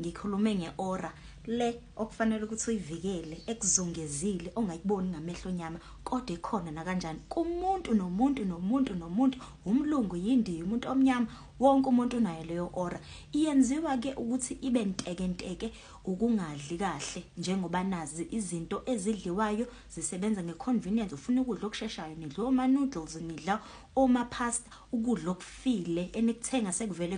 Ngikhulume ngeora le okufanele ukuthi uyivikele ekuzungezile ongayiboni ngamehlo nyama kodwa ikhona nakanjani kumuntu nomuntu nomuntu nomuntu umlungu yindiyi umuntu omnyama wonke umuntu unayo leyo ora iyenziwa ke ukuthi ibe nteke nteke ukungadli kahle njengoba nazi izinto ezidliwayo zisebenza ngeconvenience ufuna ukudla okusheshayo nidla oma noodles nidla oma pasta ukudla okufile enikuthenga sekuvele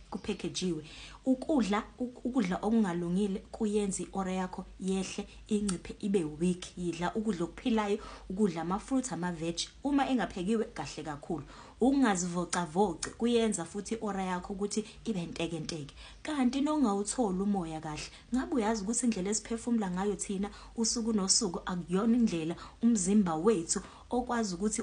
kuphekejiwe. Ukudla ukudla okungalungile kuyenza i-ore yakho yehle, inciphe ibe weak. Yidla ukudla okuphilayo, ukudla ama-fruit, ama-veg. Uma engaphekiwe kahle kakhulu. Ukungazivocavoci kuyenza futhi i-ore yakho ukuthi ibe ntekenteke. Kanti nokungawutholi umoya kahle. Ngabe uyazi ukuthi indlela esiphefumula ngayo thina usuku nosuku akuyona indlela umzimba wethu okwazi ukuthi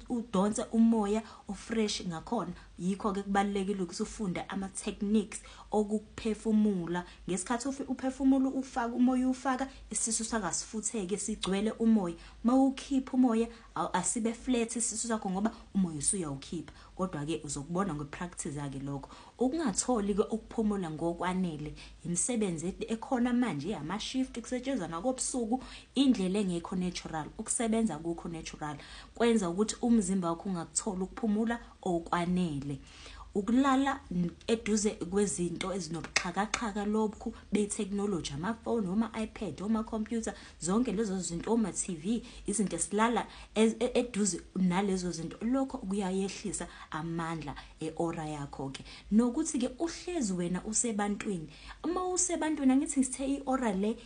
udonse umoya o-fresh ngakhona? Yikho ke kubalulekile ukuthi ufunde ama techniques okuphefumula ngesikhathi uphefumula ufaka umoya ufaka isisu sakasifutheke sigcwele umoya mawukhipha umoya asibe flat isisu sakho ngoba umoya usuyawukhipha kodwa ke uzokubona ngwe practice yake lokho ukungatholi ke ukuphumula ngokwanele imisebenzi ekhona manje ama shift kusetshenzwa nakobusuku indlela engekho natural ukusebenza kukho natural kwenza ukuthi umzimba wakho ungakutholi ukuphumula okwanele. Ukulala eduze kwezinto ezinobuxhakaxhaka lobukhu bethekhnoloji, amafoni, oma-iPad, omakhompyutha, zonke lezo zinto, oma-TV, izinto esilala e-, eduze nalezo zinto, lokho kuyayehlisa amandla e-ora yakho-ke. Nokuthi-ke uhlezi wena usebantwini. Uma usebantwini, angithi ngithe i-ora le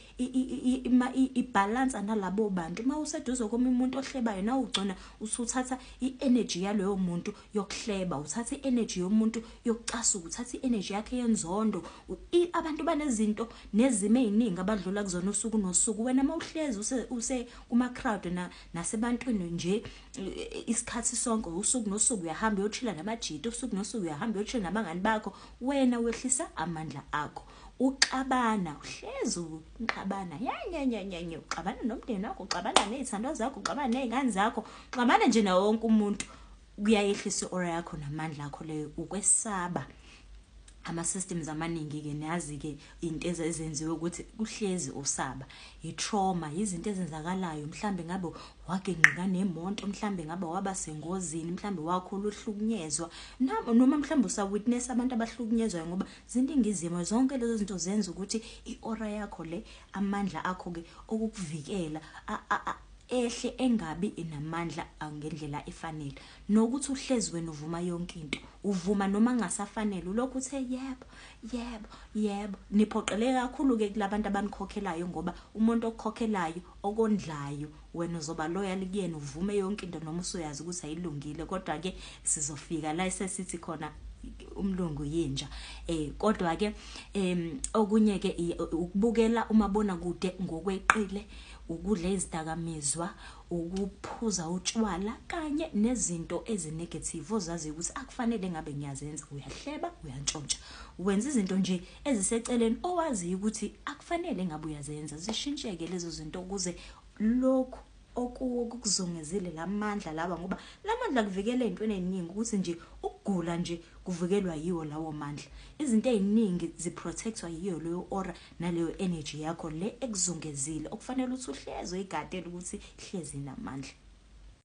ibhalansa nalabo bantu uma useduze komunye umuntu ohlebayo nawe ugcona usuthatha i-energy yaloyo muntu yokuhleba uthatha i-energy yomuntu yokucasuka uthatha i-energy yakhe yenzondo abantu banezinto nezimo ey'ningi abadlula kuzona usuku nosuku wena uma uhlezi use kuma-crowd nasebantwini nje isikhathi sonke usuku nosuku uyahamba uyochila namajita usuku nosuku uyahamba uyochila nabangani bakho wena wehlisa amandla akho uxabana uhlezi uxabana yanyanyanyanyo uxabana nomndeni wakho uxabana nezithandwa zakho uxabana nezingane zakho uxabana nje nawo wonke umuntu kuyayehlisa i-aura yakho namandla akho leyo ukwesaba ama-systems amaningi-ke niyazi-ke into ezenziwe ukuthi kuhlezi usaba i-trauma yizinto ezenzakalayo mhlawumbe ngabe wagingqika nemonto mhlawumbe ngabe waba sengozini mhlawumbe wakhula uhlukunyezwa noma mhlawumbe usawitness abantu abahlukunyezwayo ngoba Zindingizimo zonke lezo zinto zenza ukuthi i-aura yakho le, amandla akho ke okukuvikela a, a, a, ehle engabi namandla a, ngendlela efanele. Nokuthi uhlezi wena uvuma yonke into. Uvuma noma kungasafanele, ulokhu uthe yebo, yebo, yebo. Niphoqeleke kakhulu ke kulabantu abanikhokhelayo ngoba umuntu okukhokhelayo okondlayo wena uzoba loyal kuyena uvume yonke into noma usuyazi ukuthi ayilungile kodwa ke sizofika la esesithi khona umlungu yinja eh kodwa ke em okunye ke ukubukela umabona kude ngokweqile ukudla izidakamizwa ukuphuza utshwala kanye nezinto ezinegative ozazi ukuthi akufanele ngabe ngiyazenza uyahleba uyantshontsha wenza izinto nje eziseceleni owaziyo ukuthi akufanele ngabe uyazenza zishintsheke lezo zinto ukuze lokhu okuwo kukuzungezile lamandla lawa ngoba lamandla kuvikela ezintweni eziningi ukuthi nje ukugula nje kuvikelwa yiwo lawo mandla izinto eziningi ziprotectwa yiyo leyo aura naleyo energy yakho le ekuzungezile okufanele ukuthi uhleze uyigadele ukuthi hlezi namandla